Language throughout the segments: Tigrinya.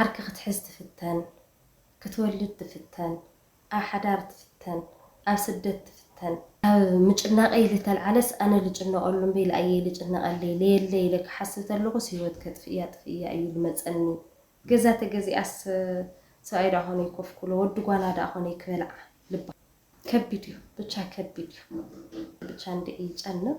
ዓርኪ ክትሕዝ ትፍተን፣ ክትወልድ ትፍተን፣ ኣብ ሓዳር ትፍተን፣ ኣብ ስደት ትፍተን። ካብ ምጭናቐይ ልተልዓለስ ኣነ ልጭነቐሉ እምበይ ልኣየይ ልጭነቐለይ ለየለይ ኢለ ክሓስብ ተለኹስ ህይወት ከጥፍእያ ጥፍእያ እዩ ልመፀኒ። ገዛ ተገዚኣስ ሰብኣይ ድኣ ኮነይ ኮፍ ክብሎ ወዲ ጓላ ድኣ ኮነይ ክበልዓ ልባ። ከቢድ እዩ ብቻ ከቢድ እዩ ብቻ እንድዒ ይጨንቕ።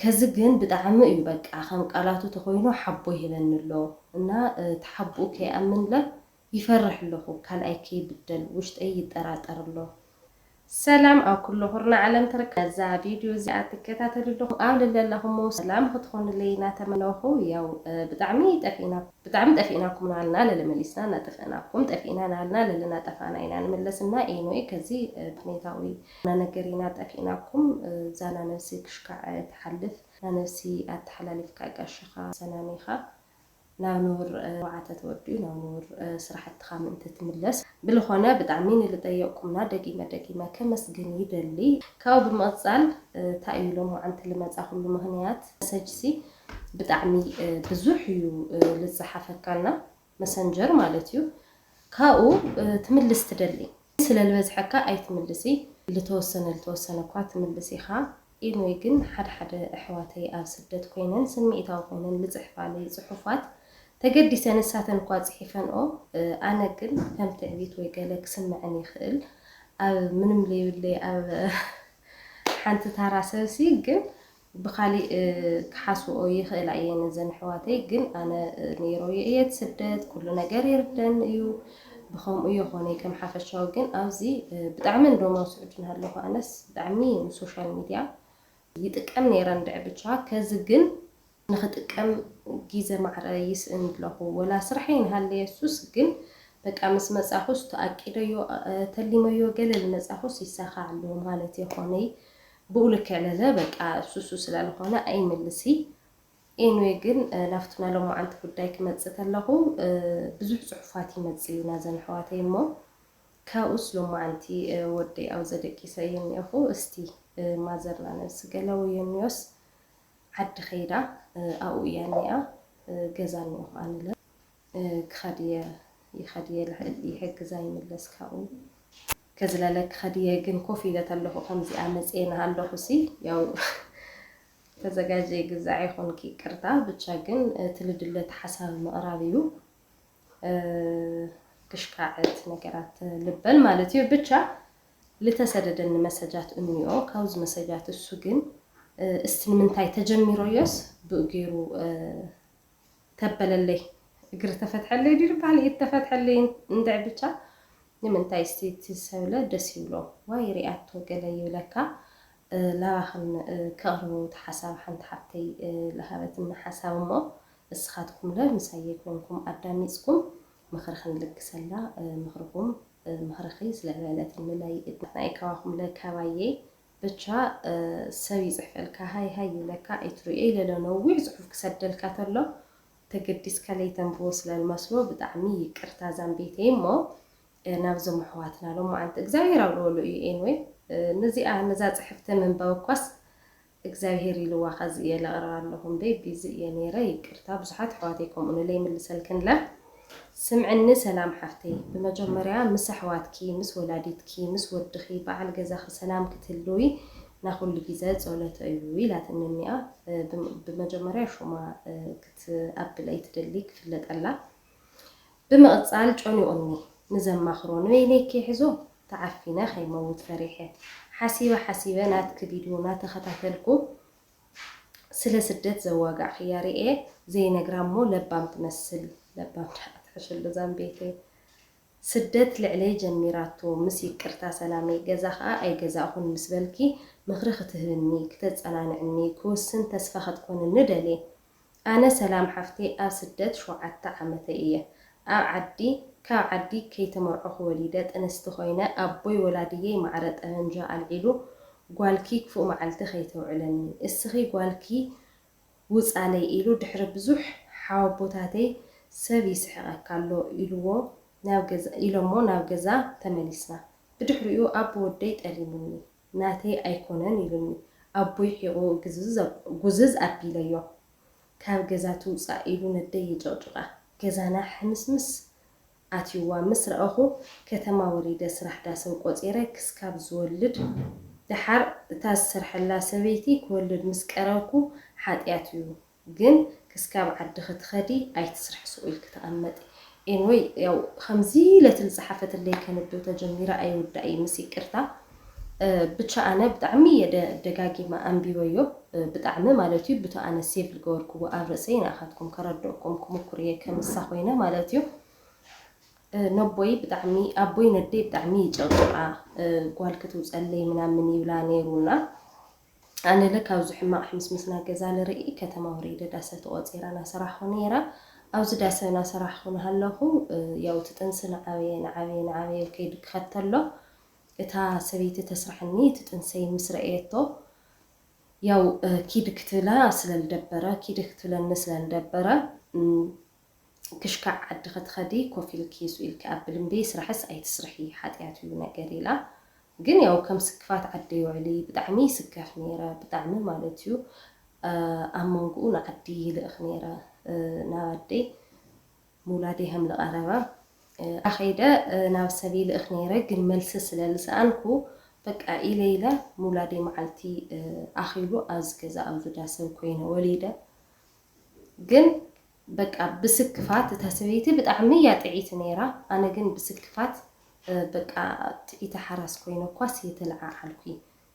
ከዚ ግን ብጣዕሚ እዩ በቃ ከም ቃላቱ ተኮይኑ ሓቦ ይህበኒ ኣሎ እና ተሓቡኡ ከይኣምን እለ ይፈርሕ ኣለኩ ካልኣይ ከይብደል ውሽጠይ ይጠራጠር ኣሎ። ሰላም ኣብ ኩሉ ኩርናዕ ዓለም ትርከቡ ነዛ ቪድዩ እዚኣ ትከታተሉ ኣለኹም ኣብ ለለኹሞ ሰላም ክትኾኑለይ ናተመነኹ ያው ብጣዕሚ ጠፊእና ብጣዕሚ ጠፊእናኩም ናሃልና ለለ መሊስና ናጠፈእናኩም ጠፊእና ናሃልና ለለ ናጠፋእና ኢና ንምለስ እና ኤንወይ ከዚ ብኔታዊ ናነገሪና ጠፊእናኩም ዛና ነብሲ ክሽካዕ ትሓልፍ ናነብሲ ኣተሓላሊፍካ ጋሻኻ ሰናኒኻ ናብ ንቡር ወዓተ ተወዲኡ ናብ ንቡር ስራሕትኻ ምእንቲ ትምለስ ብልኾነ ብጣዕሚ ንልጠየቅኩምና ደጊመ ደጊመ ከመስግን ይደሊ ካብኡ ብምቅጻል ታይ እዩ ሎምዓንቲ ልመጻኹሉ ምኽንያት መሰጅሲ ብጣዕሚ ብዙሕ እዩ ልጻሓፈካና መሰንጀር ማለት እዩ ካብኡ ትምልስ ትደሊ ስለ ልበዝሐካ ኣይትምልሲ ልተወሰነ ልተወሰነ እኳ ትምልስ ኢካ ኤንወይ ግን ሐደ ሐደ እሕዋተይ ኣብ ስደት ኮይነን ስሚኢታዊ ኮይነን ልፅሕፋለይ ፅሑፋት ተገዲሰ ንሳተን እኳ ፅሒፈንኦ ኣነ ግን ከም ትዕቢት ወይ ገለ ክስመዐን ይክእል ኣብ ምንም ለይብለይ ኣብ ሐንቲ ታራ ሰብሲ ግን ብካሊእ ክሓስብኦ ይክእላ እየን እዘን ኣሕዋተይ ግን ኣነ ነይረዮ እየ እቲ ስደት ኩሉ ነገር ይርደኒ እዩ ብከምኡ የኮነይ ከም ሓፈሻዊ ግን ኣብዚ ብጣዕሚ እንዶም ኣብ ስዑዲ ናሃለኩ ኣነስ ብጣዕሚ ንሶሻል ሚድያ ይጥቀም ነይረ እንድዒ ብቻ ከዚ ግን ንክጥቀም ጊዘ ማዕረ ይስእን ኣለኩ ወላ ስራሐይ ናሃለየ እሱስ ግን በቃ ምስ መፃኩስ ተኣቂደዮ ተሊመዮ ገለ ልመፃኩስ ይሳካዕ ኣሎ ማለት የኮነይ ብኡ ልክዕ ለዘ በቃ ሱሱ ስላልኾነ ኣይምልሲ ኤንወይ ግን ናብቲ ናይ ሎማዓንቲ ጉዳይ ክመጽእ ተለኹ ብዙሕ ጽሑፋት ይመጽእ እዩ ናዘን ኣሕዋተይ እሞ ካብኡስ ሎማዓንቲ ወደይ ኣውዘ ደቂሰ እየ እኒኦኹ እስቲ ማዘርና ነብሲ ገለ ወዮኒዮስ ዓዲ ከይዳ ኣብኡ እያ እኒኣ ገዛ እኒኦኹ ኣንለ ክኸድ እየ ይኸድ እየ ልሕልፍ እየ ሕግዛ ይምለስ ካብኡ ከዝለለ ክኸድ እየ ግን ኮፍ ኢለ ተለኹ ከምዚኣ መጽየ ናሃለኹ ሲ ያው ተዘጋጀይ ግዛዕ ይኹንኪ ይቅርታ ብቻ ግን እቲ ልድለት ሓሳብ ምቕራብ እዩ ክሽካዕት ነገራት ልበል ማለት እዩ ብቻ ልተሰደደኒ መሰጃት እንዮ ካብዚ መሰጃት እሱ ግን እስቲ ንምንታይ ተጀሚሮዮስ ብኡ ገይሩ ተበለለይ እግሪ ተፈትሐለይ ድዩ ልበሃል ኢድ ተፈትሐለይ እንድዒ ብቻ ንምንታይ እስቲ እቲ ሰብለ ደስ ይብሎ ዋይ ሪኣቶ ገለ ይብለካ ላባክን ከቅርቦ እቲ ሓሳብ ሓንቲ ሓብተይ ልሃበትኒ ሓሳብ እሞ እስካትኩምለ ምሳየይ ኮንኩም ኣዳሚፅኩም ምክሪ ክንልግሰላ ምክርኩም ምክርኪ ስለበለትኒ ናይ ንሕና ኢዩ ካባኩምለ ካባየይ ብቻ ሰብ ይጽሕፈልካ ሃይ ሃይ ይብለካ ኣይትርእዮ ኢለ ዶ ነዊሕ ጽሑፍ ክሰደልካ ተሎ ተገዲስካ ለይተንብቦ ስለ ልመስሎ ብጣዕሚ ይቅርታ ዛምቤተይ እሞ ናብዞም ኣሕዋትና ሎማዓንቲ እግዚኣብሄር ኣብልወሉ እዩ ኤንወይ ንዚኣ ንዛ ጽሕፍቲ ምንባብ እኳስ እግዚኣብሄር ኢልዋ ከዚ እየ ለቅርባ ኣለኩ እምበይ ቢዚ እየ ነይረ ይቅርታ ብዙሓት ኣሕዋተይ ከምኡ ንለይ ይምልሰልክን እለ። ስምዕኒ ሰላም ሓፍተይ ብመጀመርያ ምስ ኣሕዋትኪ ምስ ወላዲትኪ ምስ ወድኺ በዓል ገዛኺ ሰላም ክትህልዊ ናኹሉ ጊዘ ፆለተ እዩ ኢላትኒ እኒኣ ብመጀመርያ ሹማ ክትኣብል ኣይትደሊ ክፍለጠላ ብምቅፃል ጨኒቁኒ ንዘማኽሮ ንበይነይ ክይሕዞ ተዓፊነ ከይመውት ፈሪሐ ሓሲበ ሓሲበ ናትኪ ቪድዮ ናተኸታተልኩ ስለ ስደት ዘዋጋዕክያ ሪኤ ዘይነግራ እሞ ለባም ትመስል ለባም ደኣ ትሕሸሉ ዛምቤተይ ስደት ልዕለይ ጀሚራቶ ምስ ይቅርታ ሰላመይ ገዛ ከኣ ኣይገዛእኹን ምስ በልኪ ምኽሪ ክትህብኒ ክተጸናንዕኒ ክውስን ተስፋ ክትኮንኒ ደልየ ኣነ ሰላም ሓፍተይ ኣብ ስደት ሸውዓተ ዓመተይ እየ ኣብ ዓዲ ካብ ዓዲ ከይተመርዖኹ ወሊደ ጥንስቲ ኮይነ ኣቦይ ወላድየይ ማዕረ ጠበንጃ ኣልዒሉ ጓልኪ ክፉእ መዓልቲ ከይተውዕለኒ እስኺ ጓልኪ ውፃለይ ኢሉ ድሕሪ ብዙሕ ሓወቦታተይ ሰብ ይስሕቀካ ኣሎ ኢልዎ ናብ ገዛ ኢሎሞ ናብ ገዛ ተመሊስና ብድሕሪኡ ኣቦ ወደይ ጠሊሙኒ ናተይ ኣይኮነን ኢሉኒ ኣቦይ ሒቑ ጉዝዝ ኣቢለዮ ካብ ገዛ ትውጻእ ኢሉ ነደይ የጨቕጭቓ ገዛና ሕምስምስ ኣትዩዋ ምስ ረኣኹ ከተማ ወሪደ ስራሕ ዳስን ቆጺረ ክስካብ ዝወልድ ደሓር እታ ዝሰርሐላ ሰበይቲ ክወልድ ምስ ቀረብኩ ሓጥያት እዩ ግን ክስካብ ዓዲ ክትከዲ ኣይትስርሒ ሱቅ ኢልኪ ተቀመጢ ኤንወይ ያው ከምዚ ለትል ዝጸሓፈትለይ ከንብብ ተጀሚረ ኣይውዳእ እዪ ምስ ይቅርታ ብቻ ኣነ ብጣዕሚ እየ ደጋጊመ ኣንቢበዮ ብጣዕሚ ማለት እዩ ብቶ ኣነ ሴቭ ልገበርክዎ ኣብ ርእሰይ ንኣካትኩም ከረድኦኩም ክሙኩር እየ ከም ንሳ ኮይነ ማለት እዩ ነቦይ ብጣዕሚ ኣቦይ ነደይ ብጣዕሚ ይጨቅጭቃ ጓል ክትውጸለይ ምናምን ይብላ ነይሩና ኣነለ ካብዚ ሕማቅ ሕምስምስ ናይ ገዛ ልርኢ ከተማ ወሪደ ዳሰ ተቆጺራ ናሰራሕኩ ነይረ ኣብዚ ዳሰ ናሰራሕኩ ናሃለኩ ያው እቲ ጥንሲ ናዓበየ ናዓበየ ናዓበየ ኢሉ ከይዱ ክኸተሎ እታ ሰበይቲ ተስርሐኒ እቲ ጥንሰይ ምስ ረእየቶ ያው ኪድ ክትብላ ስለልደበረ ኪድ ክትብለኒ ስለልደበረ ክሽካዕ ዓዲ ክትኸዲ ኮፍ ኢልኪ ሱእ ኢልኪ ኣብል እምቢ ስራሕስ ኣይትስርሒ ሓጥያት እዩ ነገር ኢላ ግን ያው ከም ስክፋት ዓደይ ውዕሊ ብጣዕሚ ይስከፍ ነይረ ብጣዕሚ ማለት እዩ ኣብ መንጉኡ ንዓዲ ይልእኽ ነይረ ናብ ኣደይ ምውላደይ ሃም ልቐረበ ኣኸይደ ናብ ሰብ ይልእኽ ነይረ ግን መልሲ ስለ ልሰኣንኩ በቃ ኢለ ኢለ ምውላደይ መዓልቲ ኣኺሉ ኣብዚ ገዛ ኣብዚ ዳሰብ ኮይነ ወሊደ ግን በቃ ብስክፋት እታ ሰበይቲ ብጣዕሚ እያ ጥዕይቲ ነይራ ኣነ ግን ብስክፋት በቃ ትዕይቲ ሓራስ ኮይነ እኳስ እየ ተለዓዓልኩ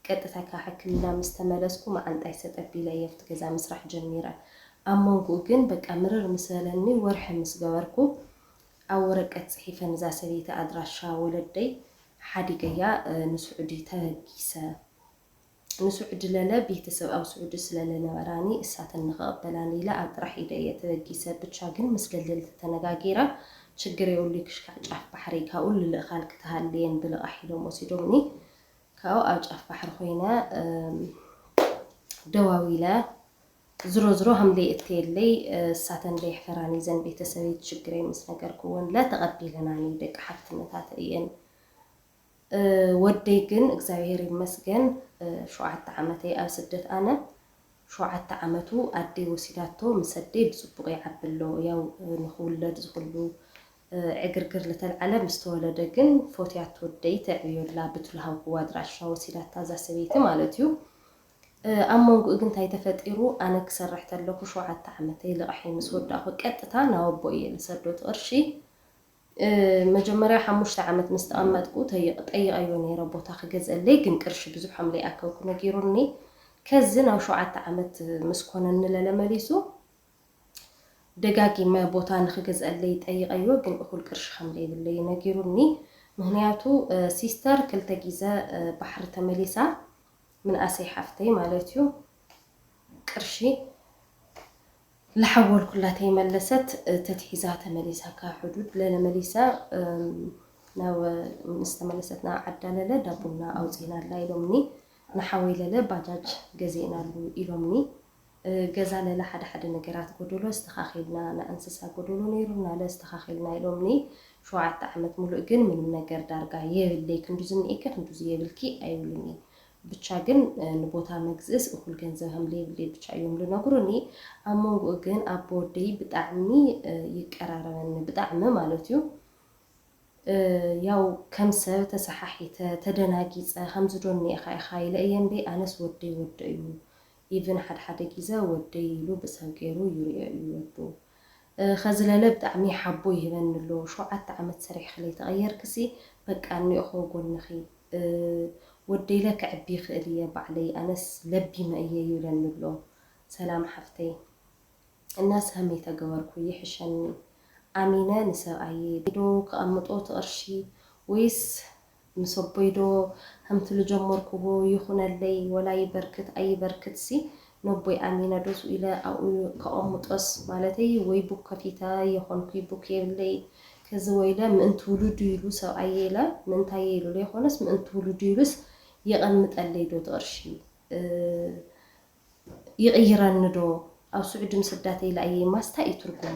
ቀጥታ ካብ ሕክምና ምስ ተመለስኩ መዓንጣይ ሰጥ ኣቢለ እየ ኣብቲ ገዛ ምስራሕ ጀሚረ ኣብ መንጉኡ ግን በቃ ምርር ምስ በለኒ ወርሒ ምስ ገበርኩ ኣብ ወረቀት ፅሒፈ ንዛ ሰበይቲ ኣድራሻ ወለደይ ሓዲገያ ንስዑዲ ተበጊሰ። ንስዑዲ ለለ ቤተሰብ ኣብ ስዑዲ ስለ ለነበራኒ እሳተን ንክቅበላኒ ኢለ ኣብ ጥራሕ ኢደ እየ ተበጊሰ ብቻ ግን ምስ ደለልቲ ተነጋጊረ ችግር የብሉይ ክሽካዕ ጫፍ ባሕሪ ካብኡ ልልእካን ክትሃልየን ብልቃሕ ኢሎም ወሲዶምኒ ካብኡ ኣብ ጫፍ ባሕሪ ኮይነ ደዋዊለ ዝሮ ዝሮ ሃምለይ እተየለይ እሳተን ለየሕፈራኒ ዘን ቤተሰበይ ችግረይ ምስ ነገርክወን ለተቀቢለናኒ ደቂ ሓፍትነታት እየን ወደይ ግን እግዚኣብሔር ይመስገን ሸውዓተ ዓመተይ ኣብ ስደት ኣነ ሸውዓተ ዓመቱ ኣደይ ወሲዳቶ ምስ ኣደይ ብፅቡቅ ይዓቢ ኣሎ ያው ንክውለድ ዝኩሉ ዕግርግር ልተልዓለ ምስ ተወለደ ግን ፎትያቶ ኣደይ ተዕብዮ ኣላ ብትሉ ሃብክዋ ኣድራሻ ወሲዳታ እዛ ሰበይቲ ማለት እዩ ኣብ መንጉኡ ግን እንታይ ተፈጢሩ ኣነ ክሰርሕ ተለኩ ሸውዓተ ዓመተይ ልቃሐይ ምስ ወዳእኩ ቀጥታ ናብ ኣቦይ እየ ልሰዶ እቲ ቅርሺ መጀመርያ ሓሙሽተ ዓመት ምስ ተቐመጥኩ ጠይቐዮ ነይረ ቦታ ክገዝኣለይ ግን ቅርሺ ብዙሕ ከም ለይኣከብኩ ነጊሩኒ ከዚ ናብ ሸውዓተ ዓመት ምስ ኮነኒ ለለ መሊሱ ደጋጊመ ቦታ ንክገዝኣለይ ጠይቐዮ ግን እኹል ቅርሺ ከም ለይብለይ ነጊሩኒ ምክንያቱ ሲስተር ክልተ ጊዘ ባሕሪ ተመሊሳ ምንኣሰይ ሓፍተይ ማለት እዩ ቅርሺ ላሓወል ኩላ ተይመለሰት ተትሒዛ ተመሊሳ ካብ ሑዱድ ለለ መሊሳ ናብ ምስ ተመለሰት ናብ ዓዳ ለለ ዳቡና ኣውጺእናላ ኢሎምኒ ንሓወይ ለለ ባጃጅ ገዚእናሉ ኢሎምኒ ገዛ ለለ ሓደ ሓደ ነገራት ጎዶሎ ኣስተካኪልና ናይ ኣንስሳ ጎዶሎ ነይሩና ለ ኣስተካኪልና ኢሎምኒ ሸውዓተ ዓመት ሙሉእ ግን ምንም ነገር ዳርጋ የብለይ ክንዱዚ እኒኤኪ ክንዱዚ የብልኪ ኣይብሉኒይ ብቻ ግን ንቦታ መግዝእስ እኩል ገንዘብ ሀምለየብለይ ብቻ እዮም ልነግሩኒ ኣብ መንጉኡ ግን ኣቦ ወደይ ብጣዕሚ ይቀራረበኒ ብጣዕሚ ማለት እዩ ያው ከም ሰብ ተሰሓሒተ ተደናጊፀ ከምዚ ዶ እኒኤካ ኢካ ኢለ እየ እምበይ ኣነስ ወደይ ወዶ እዩ ኢቭን ሓደ ሓደ ጊዘ ወደይ ኢሉ ብሰብ ገይሩ ይሪኦ እዩ ወዱ ኸዝለለ ብጣዕሚ ሓቦ ይህበኒ ኣሎ ሸውዓተ ዓመት ሰሪሕኺ ለይተቀየርክሲ በቃ እኒኦኾ ጎንኺ ወደይለ ከዕቢ ይኽእል እየ ባዕለይ ኣነስ ለቢመ እየ ይብለኒ ኣሎ ሰላም ሓፍተይ እና ሰህመይ ተገበርኩ ይሕሸኒ ኣሚነ ንሰብኣየይ ዶ ከቀምጦ እቲ ቅርሺ ወይስ ምስ ኣቦይ ዶ ከምቲ ልጀመርክዎ ይኹነለይ ወላ ይበርክት ኣይበርክትሲ ነቦይ ኣሚነ ዶ ስኡ ኢለ ኣብኡ ከቐሙጦስ ማለተይ ወይ ቡክ ከፊተ የኾንኩይ ቡክ የብለይ ከዚ ወይለ ምእንቲ ውሉዱ ኢሉ ሰብኣየይ ኢለ ምእንታየይ ኢሉ ለይኾነስ ምእንቲ ውሉዱ ኢሉስ የቐምጠለይ ዶ ትቕርሺ ይቕይረኒ ዶ ኣብ ስዑዲ ምስዳተይ ለኣየይ ማስታይ እዩ ትርጉሙ።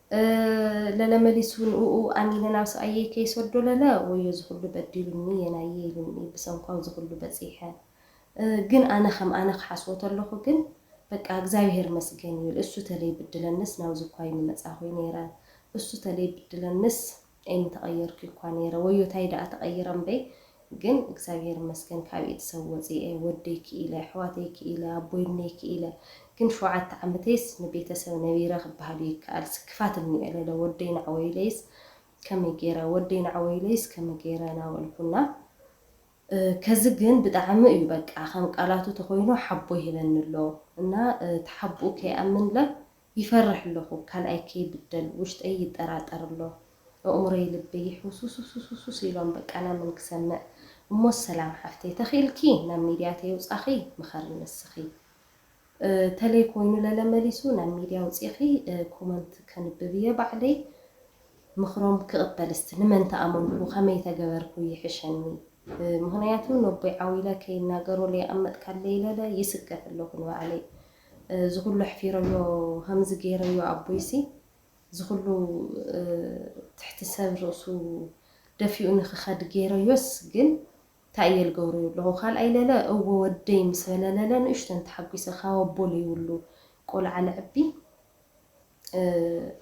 ለለ መሊሱ ንእኡ ኣሚነ ናብ ሰብኣየይ ከይሰዶ ለለ ወዮ ዝኹሉ በዲሉኒ የናየይ ኢሉኒ ብሰንኳው ዝኹሉ በጺሐ ግን ኣነ ከም ኣነ ክሓስቦ ተለኹ ግን በቃ እግዚኣብሔር መስገን ይብል እሱ ተለይብድለንስ ናብዚ እኳ ኣይምመጻኹይ ነይረ እሱ ተለይብድለንስ ኣይምተቀየርኩ ኢኳ ነይረ ወዮ ታይ ደኣ ተቀይረ እምበይ ግን እግዚኣብሔር ይመስገን ካብ ኢድ ሰብ ወፂኤ ወደይ ክኢለ ኣሕዋተይ ክኢለ ኣቦይ እነይ ክኢለ ግን ሸውዓተ ዓመተይስ ንቤተሰብ ነቢረ ክበሃልዩ ይከኣልስ ክፋት እኒኦ ለለ ወደይ ናዕወይለይስ ከመይ ገይረ ወደይ ናዕወይለይስ ከመይ ገይረ ናበልኩ እና ከዚ ግን ብጣዕሚ እዩ በቃ ከም ቃላቱ ተኮይኑ ሓቦ ይህበኒ ኣሎ እና ተሓቡኡ ከይኣምንለ ይፈርሕ ኣለኹ ካልኣይ ከይብደል ውሽጠይ ይጠራጠር ኣሎ እእምሮይ ልበይ ይሕውስውስውስውስውስ ኢሎም በቃ ናምን ክሰምዕ እሞስ ሰላም ሓፍተይ ተኺእልኪ ናብ ሚድያ ተየውፃኺ ምኸሪ ንስኺ ተለይ ኮይኑ ለለ መሊሱ ናብ ሚድያ ኣውፂእኺ ኮመንት ከንብብ እየ ባዕለይ ምኽሮም ክቕበል እስቲ ንመን ተኣመንኩ ከመይ ተገበርኩ ይሕሸኒ ምኽንያቱ ነቦይ ዓው ኢለ ከይናገሮ ለየቐመጥካለይ ለለ ይስገፍ ኣለኹ ንባዕለይ እዚ ኩሉ ኣሕፊረዮ ከምዚ ገይረዮ ኣቦይሲ ዝኩሉ ትሕቲ ሰብ ርእሱ ደፊኡ ንክከድ ገይረዮስ ግን ታይ እየ ልገብሮ ኣለኩ ካልኣይ ለለ እወ ወደይ ምስ በለ ለለ ንእሽተን ተሓጉሰ ካብ ኣቦ ለይብሉ ቆልዓ ለዕቢ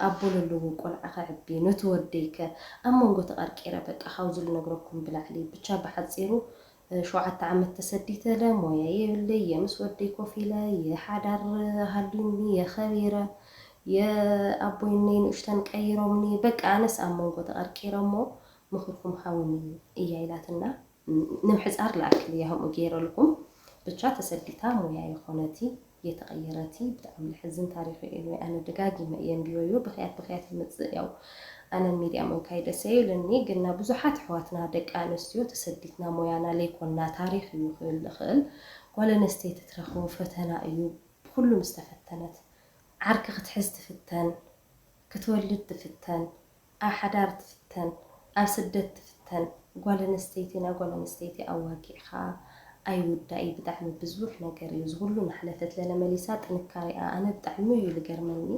ኣቦሉሉ ውን ቆልዓ ከዕቢ ነቲ ወደይ ከ ኣብ መንጎ ተቀርቂረ በቃ ካብዚ ልነግረኩም ብላዕሊ ብቻ ብሓጺሩ ሸውዓተ ዓመት ተሰዲተ እለ ሞያ የብለይ እየ ምስ ወደይ ኮፍ ኢለ እየ ሓዳር ሃልዩኒ እየ ከቢረ እየ ኣቦይ እነይ ንእሽተን ቀይሮምኒ በቃ ኣነስ ኣብ መንጎ ተቀርቂረ እሞ ምክርኩም ሃቡኒ እያ ኢላትና። ንምሕጻር ልኣክል እየ ከምኡ ገይረልኩም ብቻ ተሰዲታ ሞያ የኮነቲ የተቀየረቲ ብጣዕሚ ልሕዝን ታሪክ እዩ anyway ኣነ ደጋጊመ እየ ኣንቢበዮ ብክያት ብክያት ይመጽእ ያው ኣነ ን ሚድያ ምንካይ ደሰ ኣይብለኒ ግና ብዙሓት ኣሕዋትና ደቂ ኣነስትዮ ተሰዲትና ሞያና ለይኮና ታሪክ እዩ ክብል ልክእል ጓል ኣነስተይቲ ትረክቦ ፈተና እዩ ብኩሉ ምስተፈተነት ዓርኪ ክትሕዝ ትፍተን ክትወልድ ትፍተን ኣብ ሓዳር ትፍተን ኣብ ስደት ትፍተን ጓል ኣነስተይቲ ናይ ጓል ኣነስተይቲ ኣዋጊዕካ ኣይውዳእ እዩ ብጣዕሚ ብዝቡሕ ነገር እዩ ዝኩሉ ናሓለፈት ለለ መሊሳ ጥንካሬኣ ኣነ ብጣዕሚ እዩ ልገርመኒ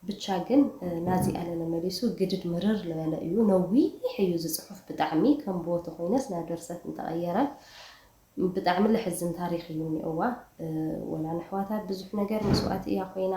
ብቻ ግን ናዚኣ ለለ መሊሱ ግድድ ምርር ልበለ እዩ ነዊሕ እዩ እዚ ፅሑፍ ብጣዕሚ ከም ብዎ ተኮይነስ ናብ ደርሰት እንተቀየረ ብጣዕሚ ለሕዝን ታሪክ እዩ እኒኦዋ ወላ ነሕዋታ ብዙሕ ነገር መስዋእቲ እያ ኮይና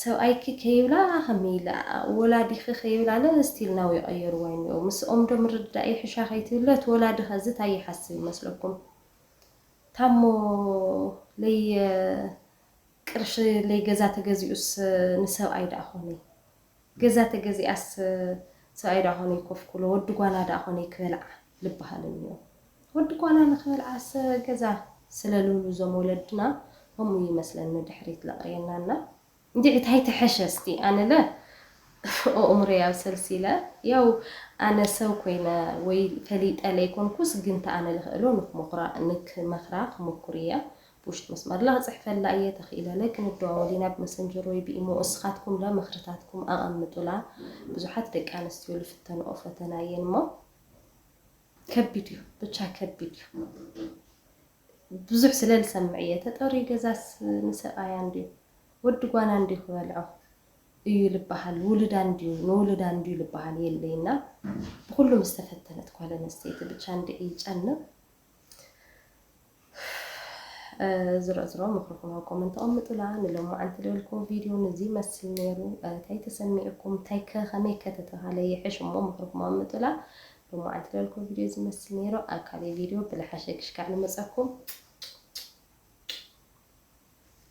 ሰብኣይኪ ከይብላ ከመይ ኢለ ወላዲኪ ከይብላ ለ ስቲል ናው ይቀየርዋ ይኒኦው ምስኦም ዶ ምርድዳእ ይሕሻ ከይትብሊ እቲ ወላዲ ከዚ ታይ ይሓስብ ይመስለኩም ታሞ ለይ ቅርሺ ለይ ገዛ ተገዚኡስ ንሰብኣይ ዳኣ ኮነይ ገዛ ተገዚኣስ ሰብኣይ ደኣ ኮነይ ኮፍ ክብሎ ወዲ ጓና ደኣ ኮነይ ክበልዓ ልበሃል እንዮ ወዲ ጓና ንክበልዓስ ገዛ ስለ ልብሉ እዞም ወለድና ከምኡ እዩ መስለን ንድሕሪት ለቅርየና እና እንዲዒ ታይ ትሐሸ እስቲ ኣነለ ኦእምሮይ ኣብ ሰልሲለ ያው ኣነ ሰብ ኮይነ ወይ ፈሊጠ ለይኮንኩስ ግንተ ኣነ ልክእሎ ንክሞክራ ንክመክራ ክሞኩር እየ ብውሽጢ መስመርለ ክጽሕፈላ ኢየ ተኺኢለለ ክንደዋወል ኢና ብመሰንጀር ወይ ብኢሞ እስኻትኩምለ ምኽርታትኩም ኣቐምጡላ ብዙሓት ደቂ ኣንስትዮ ልፍተንኦ ፈተና ኢየን እሞ ከቢድ እዩ ብቻ ከቢድ እዩ ብዙሕ ስለ ልሰምዕ ኢየ ተጠርዩ ገዛስ ንሰብኣያ እንድዩ ወዲ ጓና እንድዩ ክበልዖ እዩ ልበሃል ውሉዳ እንድዩ ንውሉዳ እንድዩ ልበሃል የለይና ብኹሉ ምስተፈተነት ጓል ኣንስተይቲ ብቻ እንድዒ ይጨንቕ ዝረዝሮ ምኽሪ ኩኖ ኮመንት ኣቕምጡላ ንሎማዓንቲ ልበልክዎ ቪድዮ ንዚ መስል ነይሩ እንታይ ተሰሚዑኩም እንታይ ከ ከመይ ከ ተተባሃለ ይሕሽ እሞ ምኽርኩም ኣቕምጡላ ሎማዓንቲ ልበልክዎ ቪድዮ እዚ መስል ነይሩ ኣብ ካልእ ቪድዮ ብልሓሸ ክሽካዕ ንመፀኩም